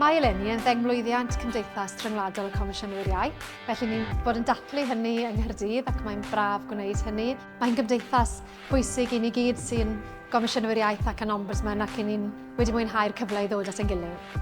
Mae eleni yn ddengmlwyddiant Cymdeithas Rhyngwladol y Comisiynwyr Iau, felly ni'n bod yn dathlu hynny yng Nghyrdydd ac mae'n braf gwneud hynny. Mae'n gymdeithas bwysig i ni gyd sy'n Gomisiynwyr Iaith ac yn Ombudsman ac i ni'n wedi mwynhau'r cyfle i ddod at ein gilydd.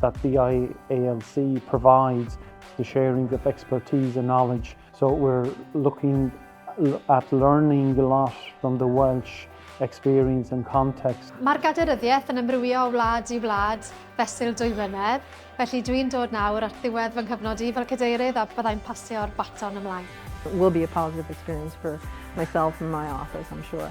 that the IALC provides the sharing of expertise and knowledge. So we're looking at learning a lot from the Welsh experience and context. Mae'r gaderyddiaeth yn ymrwyo o wlad i wlad fesul dwy flynedd, felly dwi'n dod nawr at ddiwedd fy nghyfnod i fel cadeirydd a byddai'n pasio'r baton ymlaen. It will be a positive experience for myself and my office, I'm sure.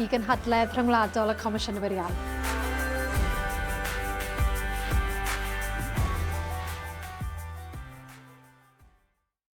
i gynhadledd rhyngwladol y Comisiynwyr Iaith.